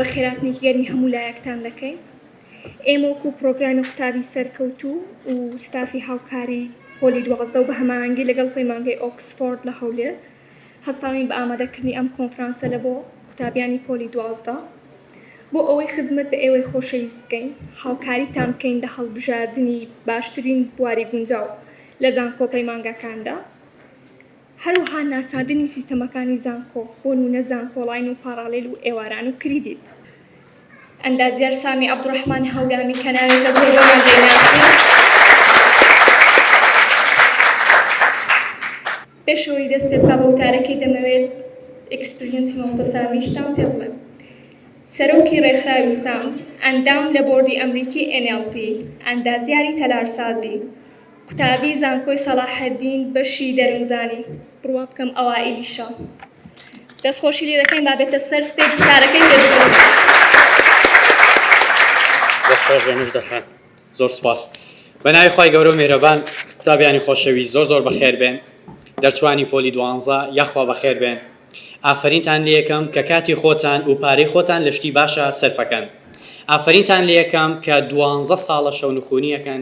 بە خێراتنێکی گەرمی هەموو لایەکتان دەکەین ئێمە وەکو پرۆگرامی قوتابی سەرکەوتوو و ستافی هاوکاری پۆلی دوازدە و بە هەمانگی لەگەڵ پەیمانگەی ئۆکسفۆرد لە هەولێر هەستاوین بە ئامادەکردنی ئەم کۆنفرانسە لە بۆ قوتابیانی پۆلی دوازدە بۆ ئەوەی خزمەت بە ئێوەی خۆشەویست بکەین هاوکاریتان بکەین لە هەڵبژاردنی باشترین بواری گونجاو لە زانکۆ پەیمانگاکاندا، هەروەها ناساندنی سیستەمەکانی زانکۆ، بۆنمونە زانکۆڵاین و پاڕاڵێل و ئێواران و کریدیت. ئەندازیار سامی عەبدوڕەحمان هەورامی کە ناوێکە زۆربەمان دەیناسین، پێش ئەوەی دەست پێ بکا بە وتارەکەی دەمەوێت ئیکسپریەنسی مامۆستا سامیشتان پێ بڵێم. سەرۆکی ڕێکخراوی سام، ئەندام لە بۆردی ئەمریکی NLP، ئەندازیاری تەلارسازی، قوتابی زانکۆی سەڵاحەدین بەشی دەروونزانی بڕوا بکەم ئەوائیلیشە دەست خۆشی لێ دەکەین با بێتە سەر ستێج کارەکەی پێشکەوت دەست خۆش بێ مژدە خان زۆر سپاس بە ناوی خی گەورە و میرەبان قوتابیانی خۆشەوی زۆر زۆر بەخێر بێن دەرچوانی پۆلی دوانزە یاخوا بەخێر بێن ئافرینتان لە یەکەم کە کاتی خۆتان و پارەی خۆتان لە شتی باشە سەرفەکەن ئافرینتان لە یەکەم کە دوانزە ساڵە شەونخونیەکەن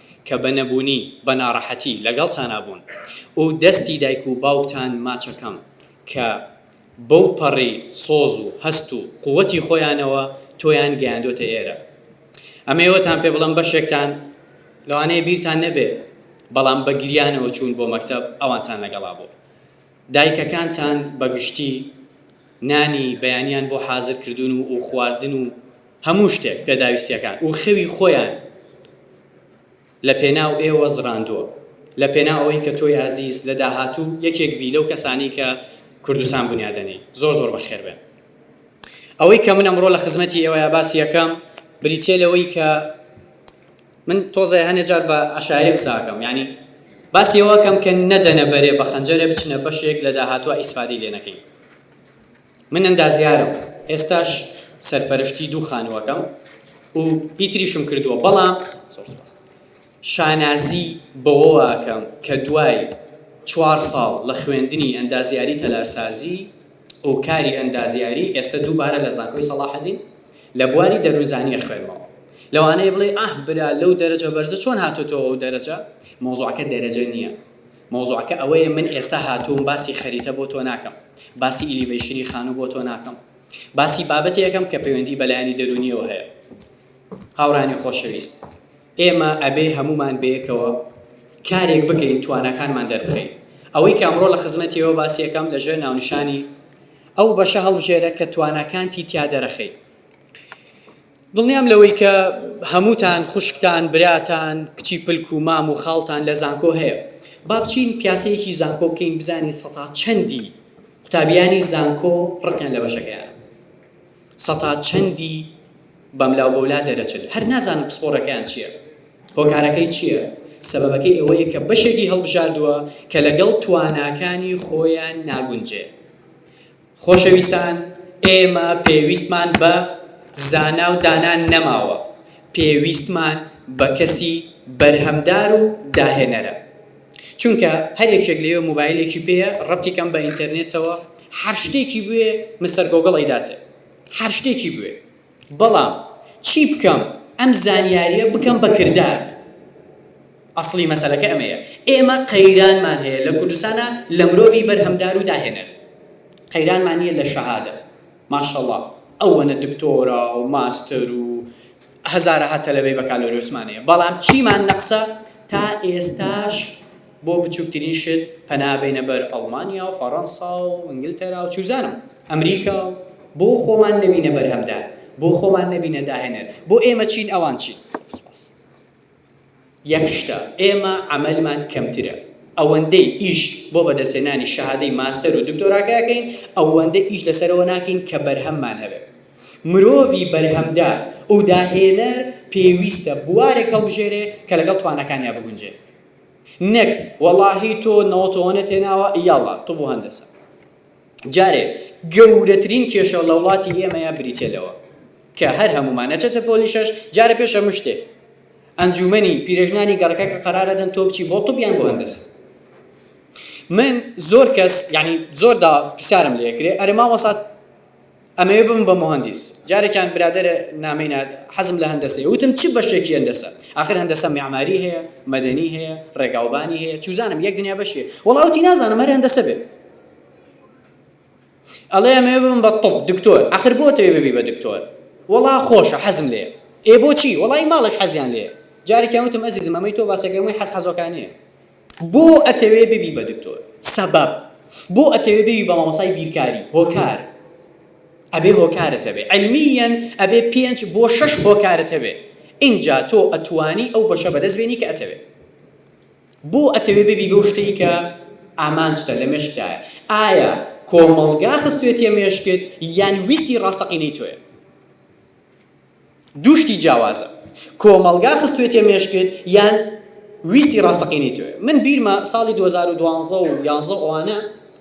کە بە نەبوونی، بە ناڕەحەتی لەگەڵتانا بوون و دەستی دایک و باوکتان ماچەکەم، کە بەو پەڕی سۆز و هەست و قووتی خۆیانەوە تۆیان گەیاندۆتە ئێرە. ئەمەی ئەوەتان پێ بڵێم بەشێکتان لەوانەیە بیرتان نەبێ، بەڵام بە گریانەوە چوون بۆ مەکتەب ئەوانتان لەگەڵا بوو. دایکەکانتان بە گشتی نانی بەیانیان بۆ حازر کردوون و خواردن و. هەموو شتێک پێداویستیەکان وخەوی خۆیان لە پێناو ئێوە زڕاندووە لە پێناو ئەوەی کە تۆی ئازیز لە داهاتوو یەکێک بی لەو کەسانەی کە کوردستان بنیادەنێی زۆر زۆر بەخێر بێن ئەوەی کە من ئەمڕۆ لە خزمەتی ئێوەیە باسی یەکەم بریتێ لەوەی کە من تۆزێ هەنێ جار بە عشاعری قساکەم ینی باسی ئەوەکەم کە نەدەنە بەرێ بە خەنجەرێ بچنە بەشێک لە داهاتوە ئیسفادی لێ نەکەین من ئەندازیارم، ئێستاش سەرپەرشتی دوو خانووەکەم و پیتریشم کردووە، بەڵام شانازی بەوەوە ئەکەم کە دوای چوار ساڵ لە خوێندنی ئەندازیاری تەلارسازی و کاری ئەندازیاری، ئێستە دووبارە لە زانکۆی سەڵاحەدین لە بواری دەروونزانی ئەخوێنمەوە. لەوانەیە بڵێی ئاه برا لەو دەرەجە بەرزە چۆن هاتۆتەوە ئەو دەرەجە؟ مەوزوعەکە دەرەجە نییە. مەوزوعەکە ئەوەیە من ئێستا هاتووم باسی خەریتە بۆ تۆ ناکەم، باسی ئیلیڤەیشنی خانوو بۆ تۆ ناکەم، باسی بابەتێ ئەکەم کە پەیوەندی بە لایەنی دەروونییەوە هەیە. هاوڕێیانی خۆشەویست، ئێمە ئەبێ هەموومان بەیەکەوە کارێک بکەین تواناکانمان دەربخەین. ئەوەی کە ئەمڕۆ لە خزمەتیەوە باسی ئەکەم لە ژێر ناونیشانی ئەو بەشە هەڵبژێرە کە تواناکانتی تیا دەرەخەی. دڵنیام لەوەی کە هەمووتان خوشکتان، براتان، کچی پلک و مام و خاڵتان لە زانکۆ هەیە. با بچین پیاسەیەکی زانکۆ بکەین بزانین سەتا چەندی قوتابیانی زانکۆ ڕقیان لە بەشەکەیانە. سەتا چەندی بەملا و بەولا دەرەچن. هەر نازانن پسپۆڕەکەیان چییە. هۆکارەکەی چییە؟ سەبەبەکەی ئەوەیە کە بەشێکی هەڵبژاردووە کە لەگەڵ تواناکانی خۆیان ناگونجێ. خۆشەویستان ئێمە پێویستمان بە زانا و دانا نەماوە، پێویستمان بە کەسی بەرهەمدار و داهێنەرە. چونکە هەر یەکێک لەوێ موبایلێکی پێیە، ڕەبتی کەم بە ئینتەرنێتەوە، هەر شتێکی بوێ مستەر گۆگڵ ئەیداتێ. هەر شتێکی بوێ. بەڵام چی بکەم ئەم زانیاریە بکەم بە کردار ئەسڵی مەسەلەکە ئەمەیە ئێمە قەیرانمان هەیە لە کوردستانا لە مرۆڤی بەرهەمدار و داهێنەر قەیرانمان نیە لە شەهادە ماشەڵا ئەوەنە دکتۆرا و ماستەر و هەزارەها تەلەبەی بەکالۆریۆسمان هەیە بەڵام چیمان نەقسە تا ئێستاش بۆ بچووکترین شت پەنابێنە بەر ئەڵمانیا و فەڕەنسا و ئینگلتەرا و چوزانم ئەمریکا و بۆ خۆمان نەبینە بەرهەمدار، بۆ خۆمان نەبینە داهێنەر، بۆ ئێمە چین ئەوان چین؟ سوپاس. یەک شتە، ئێمە عەمەلمان کەمترە، ئەوەندەی ئیش بۆ بەدەستهێنانی شەهادەی ماستەر و دکتۆراکە ئەکەین، ئەوەندە ئیش لەسەرەوە ناکەین کە بەرهەممان هەبێ. مرۆڤی بەرهەمدار و داهێنەر پێویستە بوارێک هەڵبژێرێ کە لەگەڵ تواناکانیا بگونجێ. نەک، وەڵاهی تۆ نەوەتەوەنت هێناوە، یەڵڵا، طب و هەندەسە. جارێ گەورەترین کێشە لە وڵاتی ئێمەیا بریتیە لەوە کە هەر هەموومان نەچێتە پۆلی شەش جارە پێش هەموو شتێ ئەنجومەنی پیرێژنانی گەڕەکە کە قەرارە دەن تۆ بچی بۆ طب یان بۆ هەندەسە من زۆر کەس یعنی زۆر دا پرسیارم لێکرێ ئەرێ مامۆسا ئەمەوێ ببم بە موهەندیس. جارێکیان برادەرێ نامەی نارد، حەزم لە هەندەسەیە. وتم چ بەشێکی هەندەسە؟ ئاخر هەندەسە میعماری هەیە، مەدەنی هەیە، ڕێگاوبانی هەیە، چوزانم یەک دنیا بەشی هەیە. وەڵا وتی نازانم هەر هەندەسە بێ. ئەڵێ ئەمەوێ ببم بە طب، دکتۆر. ئاخر بۆ ئەتەوێ ببی بە دکتۆر؟ وەڵا خۆشە، حەزم لێیە. ئێ بۆچی؟ وەڵا هی ماڵێک حەزیان لێیە. جارێکیان وتم ئەزیزم ئەمەی تۆ باسەکەی هەمووی حەز حەزۆکانەیە. بۆ ئەتەوێ ببی بە دکتۆر؟ سەبەب، بۆ ئەتەوێ ببی بە مامۆستای بیرکاری؟ هۆکار، ئەبێ هۆکارت هەبێ عیلمیەن ئەبێ پێنج بۆ شەش هۆکارت هەبێ ئینجا تۆ ئەتوانی ئەو بەشە بەدەست بێنی کە ئەتەوێ بۆ ئەتەوێ ببی بەو شتەی کە ئامانجتە لە مێشکدایە ئایا کۆمەڵگا خستوێتیە مێشکت یان ویستی ڕاستەقینەی تۆیە دوو شتی جیاوازە کۆمەڵگا خستوێتیە مێشکت یان ویستی ڕاستەقینەی تۆیە من بیرمە ساڵی دوو هەزار و دوازدە و یازدە و ئەوانە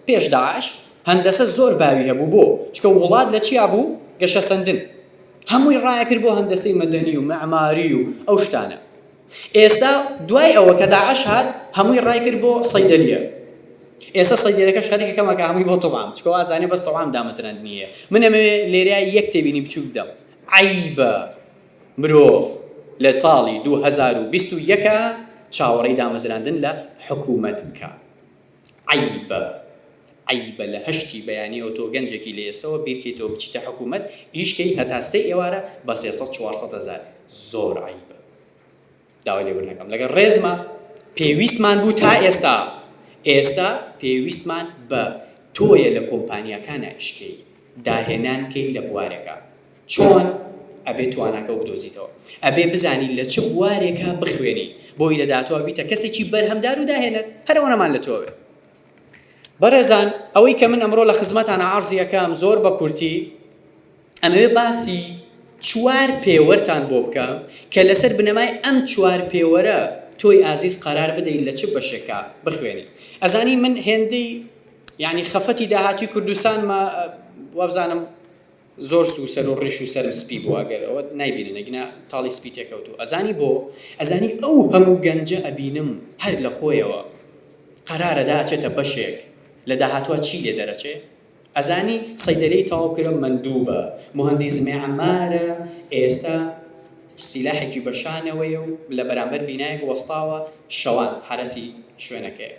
پێش داعش هەندەسە زۆر باوی هەبوو بۆ چکە وڵات لە چیا بوو گەشەسەندن هەمووی ڕایەکرد بۆ هەندەسەی مەدەنی و مەعماری و ئەو شتانە ئێستا دوای ئەوە کە داعش هات هەمووی ڕایکرد بۆ صیدلیە ئێستا صیدلیەکەش خەریکە کەم ئەکا هەمووی بۆ طعام چکۆ ئازانێ بەس طعام دامەزراندنی هەیە من ئەمەوێ لێرە یەک تێبینی بچوک بدەم عەیبە مرۆڤ لە ساڵی دوو هەزار و بیست و یەک چاوەڕێی دامەزراندن لە حکومەت بکا. عەیبە عەیبە لە هەشتی بەیانیەوە تۆ گەنجێکی لە ئێسەوە بیرکەیتەوە بچیتە حکومەت ئیش کەیت هەتا سێ ئێوارە بە سێ سەد چوار سەد هەزار زۆر عەیبە داوای لێبرنەکەم لەگەر ڕێزما پێویستمان بوو تا ئێستا ئێستا پێویستمان بە تۆیە لە کۆمپانیاکانە ئیشکەی داهێنان کەی لە بوارەکە. چۆن ئەبێ تواناکە وبدۆزیتەوە؟ ئەبێ بزانی لە چ بوارێکا بخوێنی بۆی لە داهاتوا بیتە کەسێکی بەرهەمدار و داهێنەر هەر ئەوەنەمان لە تۆوێ بەڕێزان ئەوەی کە من ئەمڕۆ لە خزمەتان عرضیەکەم زۆر بە کورتی ئەمەوێ باسی چوار پێوەرتان بۆ بکەم کە لەسەر بنەمای ئەم چوار پێوەرە تۆی ئازیز قرار بدەیت لە چ بەشێکا بخوێنی ئەزانی من هێندەی یعنی خەفەتی داهاتوی کوردستانمە وابزانم زۆر سو سەر و ڕیش و سەرم سپی بوو ئەگەر ئەوەت نایبینن ئەگینا تاڵی سپی تێکەوتوو ئەزانی بۆ ئەزانی ئەو هەموو گەنجە ئەبینم هەر لە خۆیەوە قەرارە دا ئەچێتە بەشێک لە داهاتوا چی لێ دەرەچێ ئەزانی سەیدەلەی تەواو کرا مەندوبە موهەندیس مێعمارە ئێستا سیلاحێکی بە شانەوەیە و لە بەرامبەر بینایەک وەستاوە شەوان حەرەسی شوێنەکەیە.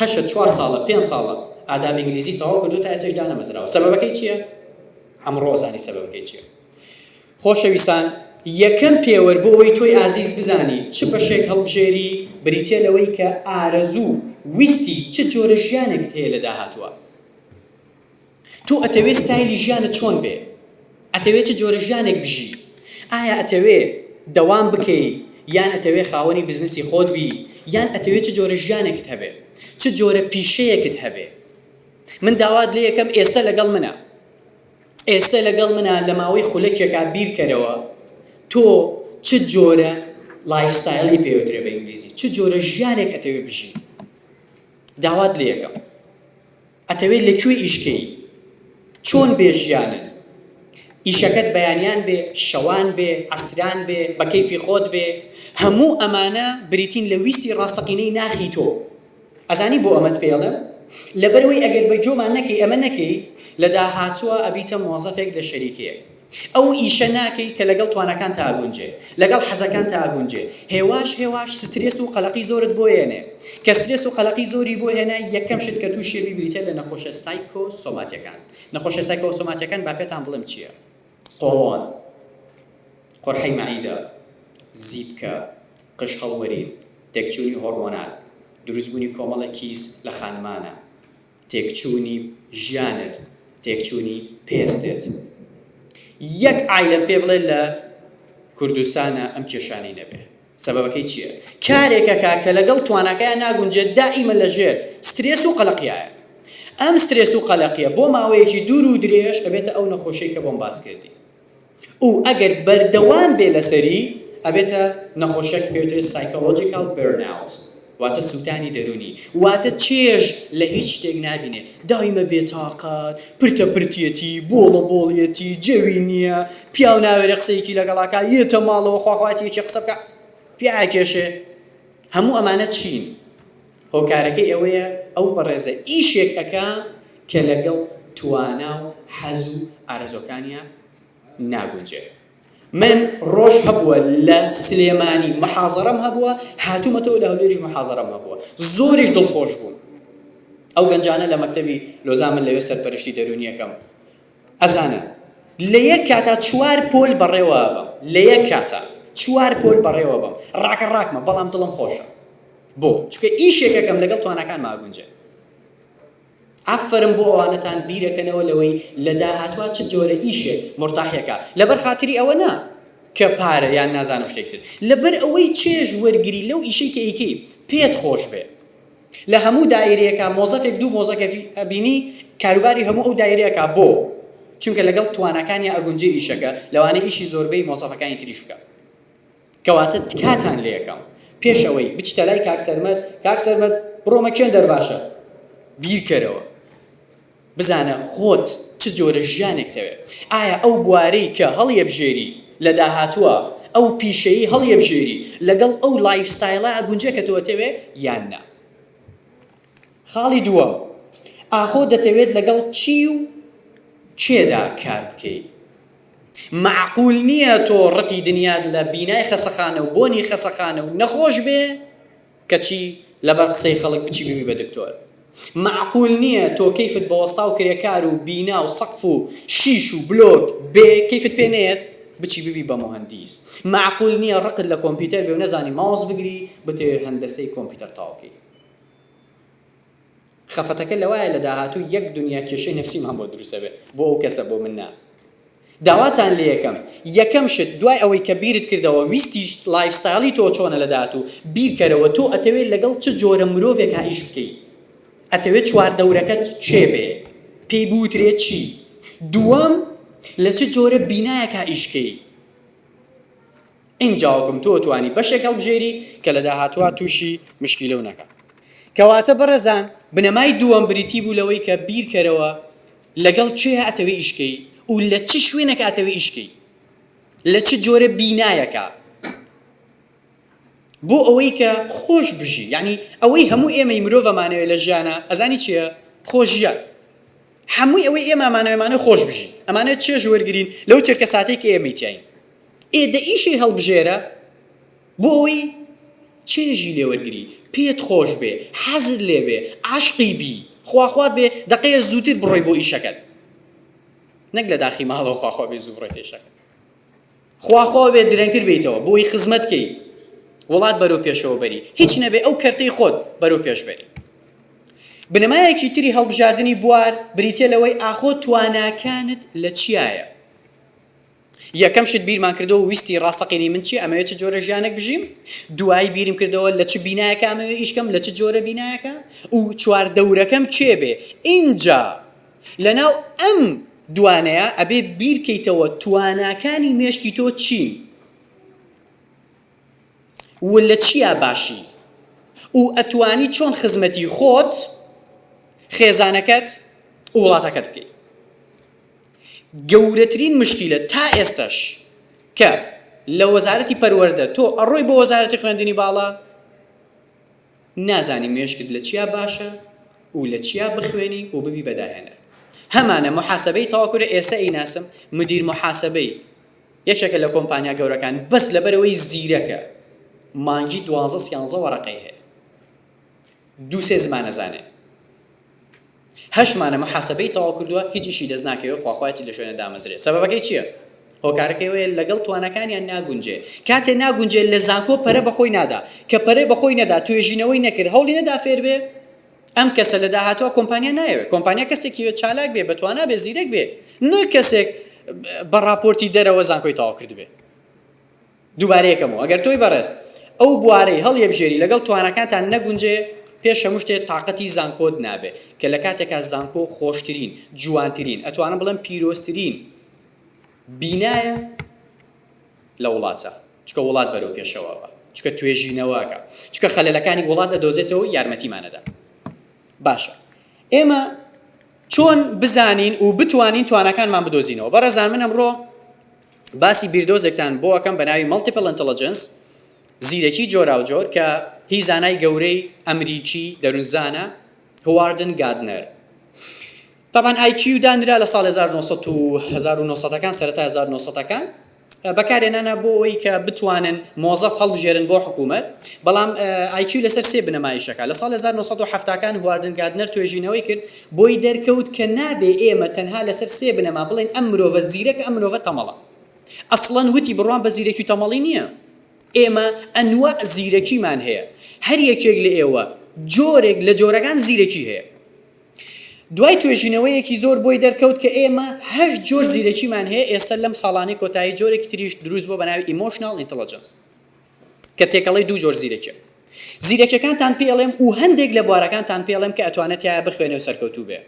هەشت چوار ساڵە پێنج ساڵە ئاداب ئینگلیزی تەواو کردووە تا ئێستەش دانەمەزراوە سەبەبەکەی چیە؟ ئەمڕۆ زانی سەبەبەکەی چیە خۆشەویستان یەکەم پێوەر بۆ ئەوەی تۆی ئازیز بزانی چ بەشێک هەڵبژێری بریتە لەوەی کە ئارەزوو ویستی چ جۆرە ژیانێکت هەیە لە داهاتووە تۆ ئەتەوێ ستایلی ژیانت چۆن بێ؟ ئەتەوێ چ جۆرە ژیانێک بژی؟ ئایا ئەتەوێ دەوام بکەی یان ئەتەوێ خاوەنی بزنسی خۆت بی یان ئەتەوێ چ جۆرە ژیانێکت هەبێ؟ چ جۆرە پیشەیەکت هەبێ؟ من داوات لێەکەم ئێستە لەگەڵ منە ئێستە لەگەڵ منە لە ماوەی خولەکێکا بیرکەرەوە تۆ چ جۆرە لایفستایلی پێوترێ بە ئینگلیزی چ جۆرە ژیانێک ئەتەوێ بژی داوات لێەکەم ئەتەوێ لە کوێ ئیش کەی چۆن بێ ژیانت ئیشەکەت بەیانیان بێ شەوان بێ عەسران بێ بە کەیفی خۆت بێ هەموو ئەمانە بریتین لە ویستی ڕاستەقینەی ناخی تۆ ئەزانی بۆ ئەمەت پێڵێم لەبەرەوەی ئەگەر بە جۆمان نەکەی ئەمە نەکەی لە داهاتووە ئەبیتە مۆزەفێک لە شەریکەیەک ئەو ئیشە ناکەی کە لەگەڵ تواناکانتا ئەگونجێ، لەگەڵ حەزەکانتا ئەگونجێ، هێواش هێواش سترێس و قەلەقی زۆرت بۆ یەنێ، کە سترێس و قەلەقی زۆری بۆ هێنای یەکەم شت کە توشی ئەبی بریتیە لە نەخۆشە سایکۆ سۆماتیەکان، نەخۆشە سایکۆ سۆماتیەکان با پێتان بڵێم چیە، قۆڵۆن، قورحەی مەعیدە، زیپکە، قژ هەڵوەرین، تێکچونی هۆڕمۆنال، دروست بونی کۆمەڵێک کیس لە خانمانە. تێکچوونی ژیانت تێکچوونی پێستت یەک عیلم پێ بڵێ لە کوردستانە ئەم کێشانەی نەبێ سەبەکەی چییە کارێکەکە کە لەگەڵ توانەکەیان ناگونجێت دائیمە لەژێر سترێس و قەلقیایە ئەم سترێس و قەلەقیە بۆ ماوەیەکی دوور و درێژ ئەبێتە ئەو نەخۆشەی کە بۆم باس کردی و ئەگەر بەردەوام بێ لەسەری ئەبێتە نەخۆشیەک کە پێوترێ Psychological Burnout واتە سوتانی دەرونی واتە چێژ لە هیچ شتێک نابینێ دایمە بێتاقەت پرتە پرتیەتی بۆڵە بۆڵیەتی جەوی نیە پیاو ناوێرێ قسەیەکی لەگەڵا کا یێتە ماڵەوە خواخواتیەکی قسە بکا پێ ئاکێشێ هەموو ئەمانە چین هۆکارەکەی ئەوەیە ئەو بەڕێزە ئیشێک ئەکا کە لەگەڵ توانا و حەز و ئارەزوەکانیا ناگونجێ من ڕۆژ هەبووە لە سلێمانی محازەرەم هەبووە هاتوومەتەوە لە هەولێریش محازەرەم هەبووە زۆریش دڵخۆش بووم ئەو گەنجانە لە مەکتەبی لۆزان من لەوێ سەرپەرشتی دەرونیەکەم ئەزانن لە یەک کاتا چوار پۆل بەڕێوە ئەبەم لە یەک کاتا چوار پۆل بەڕێوە بەم ڕاکە ڕاکمە بەڵام دڵم خۆشە بۆ چکە ئیشێکەکەم لەگەڵ توانەکان ماگونجێ ئافرم بۆ ئەوانەتان بیرەکەنەوە لەوەی لە داهاتوە چ جۆرە ئیشێ مرتاحەکە لەبەر خاتری ئەوە نا کە پارە یان نازانم شتێکتر لەبەر ئەوەی چێژ وەرگری لەو ئیشەی کە ئیکەی پێت خۆش بێ لە هەموو دایرەیەکا مۆزەفێک دوو مۆزەکەفی ئەبینی کاروباری هەموو ئەو دایرە ئەکا بۆ؟ چونکە لەگەڵ تواناکانیا ئەگونجێ ئیشەکە لەوانەیە ئیشی زۆربەی مۆزەفەکانی تریش بکا کەواتە تکاتان لێکەم پێش ئەوەی بچیتە لای کاک سەرمەد کاک سەرمەد بڕۆمە کێندەر باشە بیرکەرەوە بزانە خۆت چ جۆرە ژیانێک تەوێ؟ ئایا ئەو بوارەی کە هەڵیەبژێری لە داهاتووە، ئەو پیشەیەی هەڵیەبژێری لەگەڵ ئەو لایف ستایلە ئەگونجێ کە تۆ ئەتەوێ یان نا؟ خاڵی دووەم، ئاخۆ دەتەوێت لەگەڵ چی و کێدا کار بکەی؟ مەعقول نییە تۆ ڕقی دنیات لە بینای خەسەخانە و بۆنی خەسەخانە و نەخۆش بێ کەچی لەبەر قسەی خەڵک بچی ببی بە دکتۆر مەعقول نیە تۆ کەیفت بە وەستا و کرێکار و بینا و سەقف و شیش و بلۆک بێ کەیفت پێ نەیەت بچی ببی بە موهەندیس مەعقول نیە ڕقت لە کۆمپیتەر بێ و نەزانی ماوس بگری بتەوێ هەندەسەی کۆمپیتەر تەواو کەی خەفەتەکە لەوایە لە داهاتوو یەک دونیا کێشەی نەفسیم هەم بۆ دروست ئەبێ بۆ ئەو کەسە بۆ من نا داواتان لێیەکەم یەکەم شت دوای ئەوەی کە بیرت کردەوە ویستیشت لایف ستایلی تۆ چۆنە لە داهاتوو بیرکەرەوە تۆ ئەتەوێ لەگەڵ چ جۆرە مرۆڤێک ها ئیش بکەی ئەتەوێ چوار دەورەکەت کێ بێ پێی بوترێ چی دووەم لە چ جۆرە بینایەک ها ئیشکەی ئینجاوەکم تۆ توانی بەشێک هەڵبژێری کە لە داهاتوا توشی مشکیلەو نەکا. کەواتە بەڕێزان بنەمای دووەم بریتی بوو لەوەی کە بیرکەرەوە لەگەڵ کێ ئەتەوێ ئیش کەی و لە چ شوێنێک ئەتەوێ ئیش کەی لە چ جۆرە بینایەکا بۆ ئەوەی کە خۆش بژی یعنی ئەوەی هەموو ئێمەی مرۆڤ ئەمانەوێ لە ژیانە ئەزانی چیە خۆش ژیان هەمووی ئەوەی ئێمە ئەمانەوێمانە خۆش بژی ئەمانەوێت چێژ وەرگرین لەو چرکە ساتێک ئێمەی تیاین ئێ دە ئیشەی هەڵبژێرە بۆ ئەوەی چێژی لێ وەرگری، پێت خۆش بێ، حەزت لێ بێ، عاشقی بی، خواخوات بێ دەقەیە زووتر بڕۆی بۆ ئیشەکەت نەک لە داخی ماڵەوە خواخوا بێ زوو بڕۆیتە ئیشەکەت، خواخوا بێ درەنگتر بێیتەوە بۆی خزمەت کەی وڵات بەرەو پێشەوە بەری، هیچ نەبێ ئەو کەرتەی خۆت بەرەو پێش بەری. بنەمایەکی تری هەڵبژاردنی بوار بریتییە لەوەی ئاخۆ تواناکانت لە چیایە؟ یەکەم شت بیرمان کردەوە ویستی ڕاستەقینەی من چیە ئەمەوێت چ جۆرە ژیانێک بژیم دوایی بیرم کردەوە لە چ بینایەکە ئەمەوێت ئیشکەم لە چ جۆرە بینایەکە و چوار دەورەکەم کێ بێ ئینجا لەناو ئەم دوانەیە ئەبێ بیرکەیتەوە تواناکانی مێشکی تۆ چین و لە چیا باشی و ئەتوانی چۆن خزمەتی خۆت خێزانەکەت و وڵاتەکەت بکەی گەورەترین مشکیلە تا ئێستش کە لە وەزارەتی پەروەەردە تۆ ئەڕۆی بۆ وەزارەتی خوێندنی باڵا نازانی مێشکت لە چیا باشە و لە چیا بخوێنی و ببی بەداهێنەر هەمانە محاسبەی تەواکرە ئێستا ئیناسم مدیر محاسبەی یەکێکە لە کۆمپانیا گەورەکان بەس لەبەرئەوەی زیرەکە مانگی دوازدە سیانزە وەرەقەی هەیە دوو سێ زمان ئەزانێ هەشت مانە محاسبەی تەواو کردووە هیچ ئیشی دەست ناکەوێت خواخواتی لە شوێنە دامەزرێ سەبەکەی چییە؟ هۆکارەکەیەوەیە لەگەڵ توانەکانیان ناگونجێ کاتێ ناگونجێ لە زانکۆ پەرە بەخۆی نادا کە پەرەی بەخۆی نەدا توێژینەوەی نەکرد هەوڵی نەدا فێربێ ئەم کەسە لە داهاتووە کۆمپانیا نایەوێت کۆمپانیا کەسێکی بێت چالاک بێت بە توانا بێت زیرەک بێت نەک کەسێک بە ڕاپۆرتی دەرەوە زانکۆی تەواو کردبێت دووبارەیەکەمەوە ئەگەر تۆی بەڕێز ئەو بوارەی هەڵیەبژێری لەگەڵ توانەکانتان نەگونجێ پێش هەموو شتێ تااقەتی زانکۆت نابێ کە لە کاتێکا زانکۆ خۆشترین جوانترین ئەتوانم بڵێم پیرۆزترین بینایە لە وڵاتە چکە وڵات بەرەو پێشەوە بە چکە توێژینەوەکە چکە خەلەکانی وڵات ئەدۆزێتەوە یارمەتیمان ئەدا باشە ئێمە چۆن بزانین و بتوانین توانەکانمان بدۆزینەوە بەڕێزان من ئەمڕۆ باسی بیردۆزێکتان بۆ ئەەکەم بە ناوی مەڵتیپل ئەنتەلەجنس زیرەکی جۆراوجۆر کە هی زانای گەورەی ئەمریکی دەروونزانە هواردن گادنەر تابان ئای کیو دانرا لە ساڵی هەزار و نۆ سەد و هەزار و نۆ سەد ەکان سەرەتای هەزار و نۆ سەد ەکان بەکارهێنانە بۆ ئەوەی کە بتوانن مۆزەف هەڵبژێرن بۆ حکوومەت بەڵام ئای کیو لەسەر سێ بنەما ئیش دەکات لە ساڵی هەزار و نۆ سەد و حەفتا کان هواردن گاردنەر توێژینەوەی کرد بۆی دەرکەوت کە نابێ ئێمە تەنها لەسەر سێ بنەما بڵێین ئەم مرۆڤە زیرەکە ئەم مرۆڤە تەمەڵە ئەسڵەن وتی بڕوام بە زیرەکی و تەمەڵی نییە ئێمە ئەنواع زیرەکیمان هەیە هەر یەکێک لە ئێوە جۆرێک لە جۆرەکان زیرەکی هەیە دوای توێژینەوەیەکی زۆر بۆی دەرکەوت کە ئێمە هەشت جۆر زیرەکیمان هەیە ئێستا لەم ساڵانەی کۆتایی جۆرێکی تریش دروست بووە بە ناوی Emotional Intelligence کە تێکەڵەی دوو جۆر زیرەکیە زیرەکیەکانتان پێ ئەڵێم و هەندێک لە بوارەکانتان پێ ئەڵێم کە ئەتوانێت تایە بخوێنێ و سەرکەوتوو بێ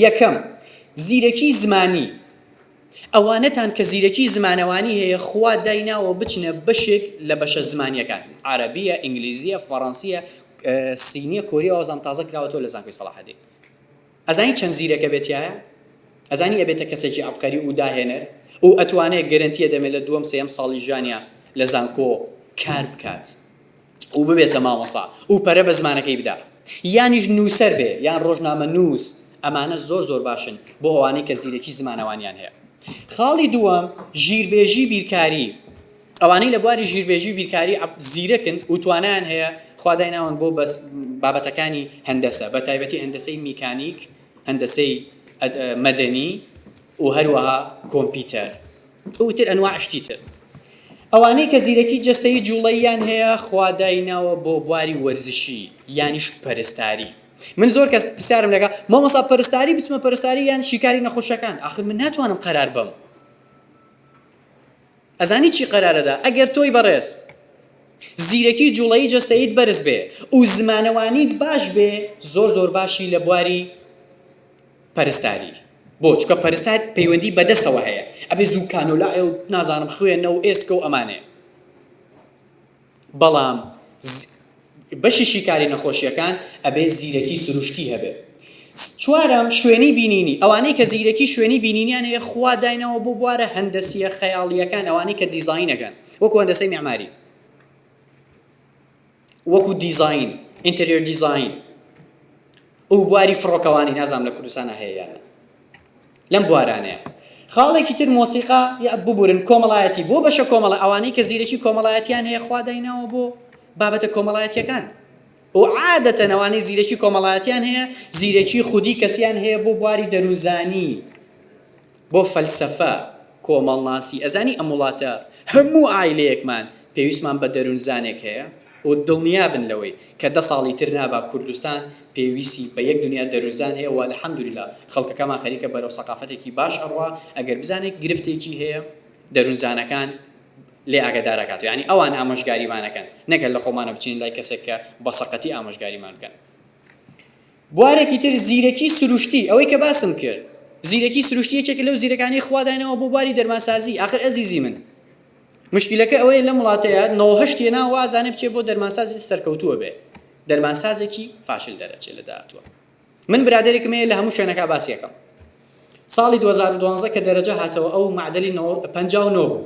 یەکەم زیرەکی زمانی ئەوانەتان کە زیرەکی زمانەوانی هەیە خوا دایناوە بچنە بەشێک لە بەشە زمانیەکان عەرەبیە ئینگلیزیە فەڕەنسیە صینیە کۆریە وازام تازە کراوەتەوە لە زانکۆی سەڵاحەدین ئەزانی چەند زیرەکە بێت تیایە ئەزانی ئەبێتە کەسێکی عەبقەری و داهێنەر و ئەتوانێت گەرەنتیە دەمێ لە دووەم سێیەم ساڵی ژیانیا لە زانکۆ کار بکات. و ببێتە مامۆسا و پەرە بە زمانەکەی بدا یانیش نووسەر بێ یان ڕۆژنامەنووس ئەمانە زۆر زۆر باشن بۆ ئەوانەی کە زیرەکی زمانەوانیان هەیە خاڵی دووەم ژیربێژی بیرکاری ئەوانەی لە بواری ژیربێژی و بیرکاری زیرەکن و توانیان هەیە خوادای ناون بۆ بەس بابەتەکانی هەندەسە بە تایبەتی هەندەسەی میکانیک هەندەسەی مەدەنی و هەروەها کۆمپیتەر و تر ئەنواع شتی تر. ئەوانەی کە زیرەکی جەستەیی جوڵەییان هەیە خوا دایناوە بۆ بواری وەرزشی یانیش پەرستاری. من زۆر کەس پرسیارم لەکە مامۆسا پەرستاری بچمە پەرستاری یان شیکاری نەخۆشەکان ئاخر من ناتوانم قەرار بم. ئەزانی چی قەرارەدا ئەگەر تۆی بەڕێز زیرەکی جوڵەی جەستەیت بەرز بێ و زمانەوانیت باش بێ زۆر زۆر باشی لە بواری پەرستاری بۆ چکە پەرستار پەیوەندی بەدەسەوە هەیە ئەبێ زوو کانۆلایە و نازانم خوێنە و ئێسکە و ئەمانێ بەڵام بەشی شیکاری نەخۆشیەکان ئەبێ زیرەکی سروشتی هەبێ چوارم شوێنی بینینی ئەوانەی کە زیرەکی شوێنی بینینیان هەیە خوا داینەوە بۆ بوارە هەندەسیە خەیاڵیەکان ئەوانەی کە دیزینەکەن وەکو هەندەسەی معماری وەکو دیزاین ئینتریۆر دیزاین ئەو بواری فڕۆکەوانی نازام لە کوردستانە هەیە یان لەم بوارانەیە خاڵێکی تر مۆسیقا یا ببورن کۆمەڵایەتی بۆ بەشە کۆمەڵە ئەوانەی کە زیرەکی کۆمەڵایەتیان هەیە خوا دایناوە بۆ بابەتە کۆمەڵایەتیەکان و عادەتەنەوانی زیرەکی کۆمەڵایەتیان هەیە زیرەکی خودی کەسیان هەیە بۆ بواری دەروزانی بۆ فەلسەفە کۆمەڵناسی ئەزانی ئەم وڵاتە هەموو عایلەیەکمان پێویستمان بە دەرونزانێک هەیە و دڵنیابن لەوەی کە دە ساڵی تر نابا کوردستان پێویسی بە یەک دنیا دەرونزان هەیە و الحمدللە خەڵکەکەمان خەریکە بەرەو سەقافەتێکی باش ئەڕوا ئەگەر بزانێت گرفتێکی هەیە دەرونزانەکان لێ ئاگەدار ئەکات یانی ئەوان ئامۆژگاریمان ئەکەن نەک هەر لە خۆمانە بچین لای کەسێک کە بە سەقەتی ئامۆژگاریمان بکەن. بوارێکی تر زیرەکی سروشتی، ئەوەی کە باسم کرد زیرەکی سروشتی یەکێکە لەو زیرەکانەی خوا دایناوە بۆ بواری دەرمانسازی، ئاخر ئەزیزی من مشکیلەکە ئەوەیە لەم وڵاتەیا نۆ هەشت هێناوە وازانێ بچێ بۆ دەرمانسازی سەرکەوتووە بێ دەرمانسازێکی فاشل دەرەچێ لە داهاتووا من برادەرێکم هەیە لە هەموو شوێنەکا باسی ئەکەم. ساڵی دوو هەزار و دوازدە کە دەرەجە هاتەوە ئەو معدلی نۆ پەنجا و نۆ بوو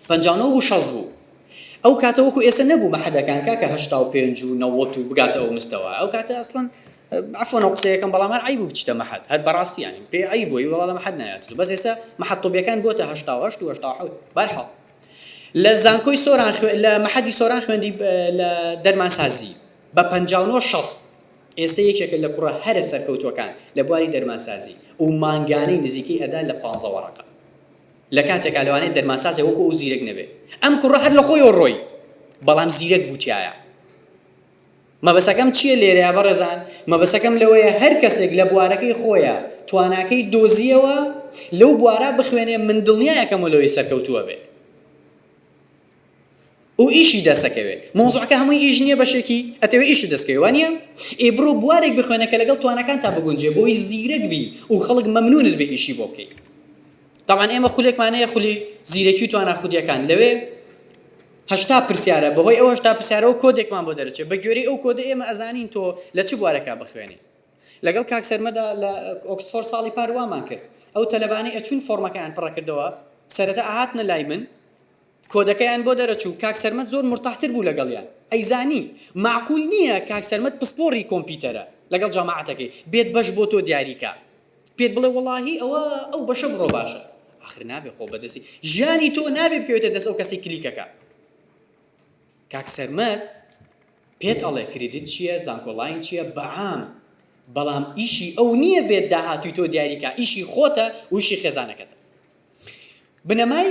پەنجا و نۆ بوو شەست بوو ئەو کاتە وەکو ئێستا نەبوو بە حەدەکان کاکە هەشتا و پێنج و نەوەت و بگاتە ئەو مستەوە ئەو کاتە ئەسڵەن عفوا نە قسەیەکەم بەڵام هەر عیب و بچیتە مەحەد هەر بەڕاستی یانی پێ عیب بووی وەڵا لە مەحەد نایەت بەس ئێستا مەحەد طبیەکان بۆتە هەشتا و هەشت و هەشتا و حەوت بەرحەڵ لە زانکۆی سۆران لە مەحەدی سۆران خوێندی لە دەرمانسازی بە پەنجا و نۆ شەست ئێستە یەکێکە لە کوڕە هەرە سەرکەوتووەکان لە بواری دەرمانسازی و مانگانەی نزیکەی ئەدا لە پانزە وەڕەقە لە کاتێکا لەوانەیە دەرمانسازێ وەکو ئەو زیرەک نەبێت ئەم کوڕە هەر لە خۆیەوە ڕۆی بەڵام زیرەک بوو تیایە مەبەسەکەم چییە لێرەیە بەڕێزان مەبەسەکەم لەوەیە هەر کەسێک لە بوارەکەی خۆیە تواناکەی دۆزیەوە لەو بوارە بخوێنێ من دڵنیایەکەم و لەوەی سەرکەوتووە بێ. و ئیشی دەسەکەوێ مەوزوعەکە هەمووی ئیش نیە بەشێکی ئەتەوێ ئیشت دەسکەوێ وانیە ئێ بڕۆ بوارێک بخوێنە کە لەگەڵ تواناکانتا بگونجێ بۆی زیرەک بی و خەڵک مەمنونت بێ ئیشی بۆ بکەی طبعا ئێمە خولێکمانەیە خولی زیرەکی و توانا خودیەکان لەوێ هەشتا پرسیارە بەهۆی ئەو هەشتا پرسیارەوە کۆدێکمان بۆ دەرچێت بە گوێری ئەو کۆدە ئێمە ئەزانین تۆ لە چ بوارەکە بخوێنی لەگەڵ کاک سەرمەدا لە ئۆکسفۆر ساڵی پار وامان کرد ئەو تەلەبانەی ئەچوون فۆرمەکەیان پڕەکردەوە سەرەتا ئاهاتنە لای من کۆدەکەیان بۆ دەرەچوو کاک سەرمەد زۆر مورتاح تر بوو لەگەڵیان ئەیزانی مەعقول نیە کاک سەرمەد پسپۆڕی کۆمپیتەرە لەگەڵ جەماعەتەکەی بێت بەش بۆ تۆ دیاری کا پێت بڵێ وەڵاهی ئەوە ئەو بەشە بڕۆ باشە ئاخر نابێ خۆ بەدەسی ژیانی تۆ نابێ بکەوێتە دەست ئەو کەسی کلیکەکە کاک سەرمەد پێت ئەڵێ کریدت چییە زانکۆڵین چییە بەعام بەڵام ئیشی ئەو نییە بێت داهاتوی تۆ دیاریکە ئیشی خۆتە ویشی خێزانەکەتە بنەمای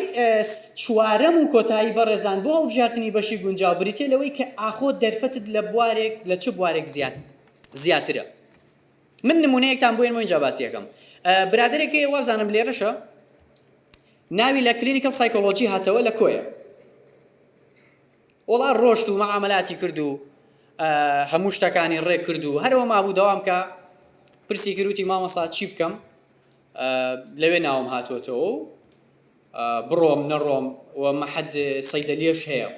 چوارەم و کۆتایی بەڕێزان بۆ هەڵبژاردنی بەشی گونجاو بریتیە لەوەی کە ئاخۆ دەرفەتت لە بوارێک لە چ بوارێک زیاد زیاترە من نمونەیەکتان بۆ ئێمە اینجا باسیەکەم برادێک هەیە وابزانم لێرەشە ناوی لە کلینیکل سایکۆلۆژی هاتەوە لە کۆیە وڵا ڕۆشت و مەعاملاتی کرد و هەموو شتەکانی ڕێ کرد و هەرەوە مابوو داوام کە پرسی کروتی مامەسا چی بکەم لەوێ ناوم هاتۆتەوە و بڕۆم نەڕۆم و مەحەد سەیدەلیەش هەیە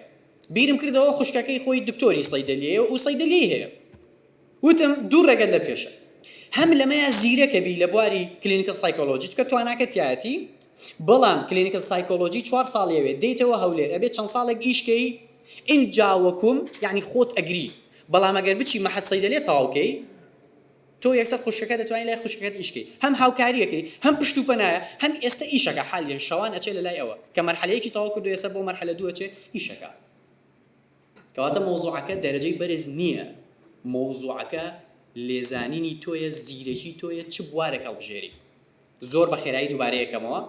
بیرم کردەوە خوشکەکەی خۆی دکتۆری سەیدەلیەیە و سەیدەلی هەیە وتم دوو ڕێگەت لە پێشە هەم لەمەیە زیرەکە بی لە بواری کلینیکل سایکۆلۆژی چکە تواناکە تایەتی بەڵام کلینیکل سایکۆلۆژی چوار ساڵیەوێ دەیتەوە هەولێر ئەبێت چەند ساڵێک ئیشکەی ئینجا وەکوم یعنی خۆت ئەگری بەڵام ئەگەر بچی مەحەد سەیدەلێ تەواوکەی تۆ یەکسەر خوشکەکە دەتوانی لای خوشکەکەت ئیش کەی هەم هاوکاریەکەی هەم پشت و پەنایە هەم ئێستە ئیشەکە حالیەن شەوان ئەچێ لەلای ئەوە کە مەرحەلە یەکی تەواو کردوە ئێستە بۆ مەرحەلە دوو ئەچێ ئیشەکە کەواتە مەوزوعەکە دەرەجەی بەرز نییە مەوزوعەکە لێزانینی تۆیە زیرەکی تۆیە چ بوارێک هەڵبژێری زۆر بە خێرایی دووبارەی ئەکەمەوە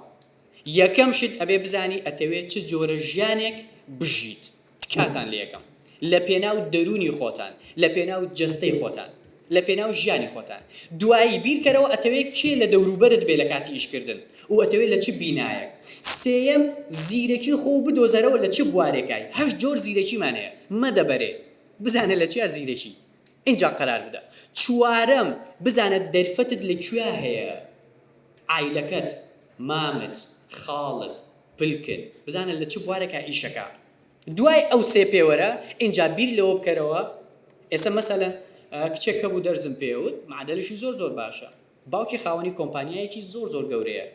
یەکەم شت ئەبێ بزانی ئەتەوێ چ جۆرە ژیانێک بژیت تکاتان لێ ئەکەم لە پێناو دەروونی خۆتان لە پێناو جەستەی خۆتان لە پێناو ژیانی خۆتان دوایی بیر کەرەوە ئەتەوێ کێ لە دەورو بەرت بێ لە کاتی ئیش کردن و ئەتەوێ لە چ بینایەک سێیەم زیرەکی خۆو بدۆزەرەوە لە چ بوارێکای هەشت جۆر زیرەکیمان هەیە مەدە بەرێ بزانە لە چیا زیرەکی ئینجا قەرار بدە. چوارەم، بزانە دەرفەتت لە کوێا هەیە، عایلەکەت، مامت، خاڵت، پلکت، بزانە لە چ بوارێکا ئیش ئەکا. دوای ئەو سێ پێوەرە، ئینجا بیر لەوە بکەرەوە، ئێسە مەسەلەن کچێک هەبوو دەرزم پێ وت، معەدەلشی زۆر زۆر باشە، باوکی خاوەنی کۆمپانیایەکی زۆر زۆر گەورەیە،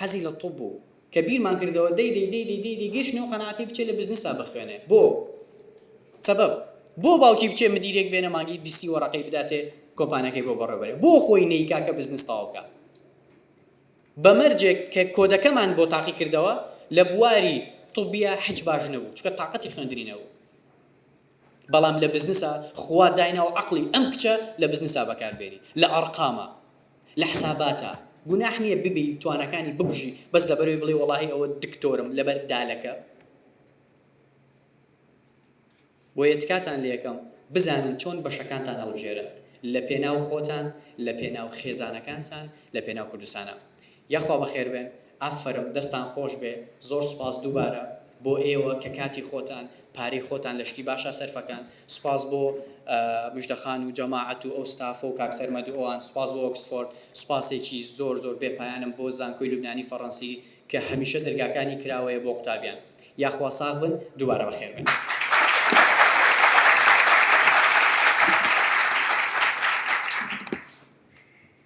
حەزی لە طب بوو کە بیرمان کردەوە دەی دەی دەی دەی دەی دەی گەیشتنە ئەو قەناعەتەی بچێ لە بزنسا بخوێنێ بۆ سەبەب بۆ باوکی بچێ مدیرێک بێنە مانگی بیستی وەڕەقەی بداتێ کۆمپانەکەی بۆ بەڕێوەبەرێ بۆ خۆی نەیکا کە بزنس تەواو بکا بە مەرجێک کە کۆدەکەمان بۆ تاقی کردەوە لە بواری طبیە حج باش نەبوو چکە تااقەتی خوێندنی نەبوو بەڵام لە بزنسا خوا دایناوە عەقڵی ئەم کچە لە بزنسا بەکار بێنی لە ئەڕقاما لە حساباتا گوناح نیە ببی تواناکانی بکوژی بەس لەبەرەوەی بڵێی وەڵاهی ئەوە دکتۆرم لەبەر دالەکە بۆیە تکاتان لێکەم بزانن چۆن بەشەکانتان هەڵبژێرن لە پێناو خۆتان لە پێناو خێزانەکانتان لە پێناو کوردستانا یاخوا بەخێربێن ئافەرم دەستان خۆشبێ زۆر سوپاس دووبارە بۆ ئێوە کە کاتی خۆتان پارەی خۆتان لە شتی باشا سەرفەکەن سوپاس بۆ مژدە خان و جەماعەت و ئەو ستافە و کاک سەرمەد و ئەوان سوپاس بۆ ئۆکسفۆرد سوپاسێکی زۆر زۆر بێ پایانم بۆ زانکۆی لوبنانی فەڕەنسی کە هەمیشە دەرگاکانی کراوەیە بۆ قوتابیان یاخوا ساغ بن دووبارە بەخێربێن.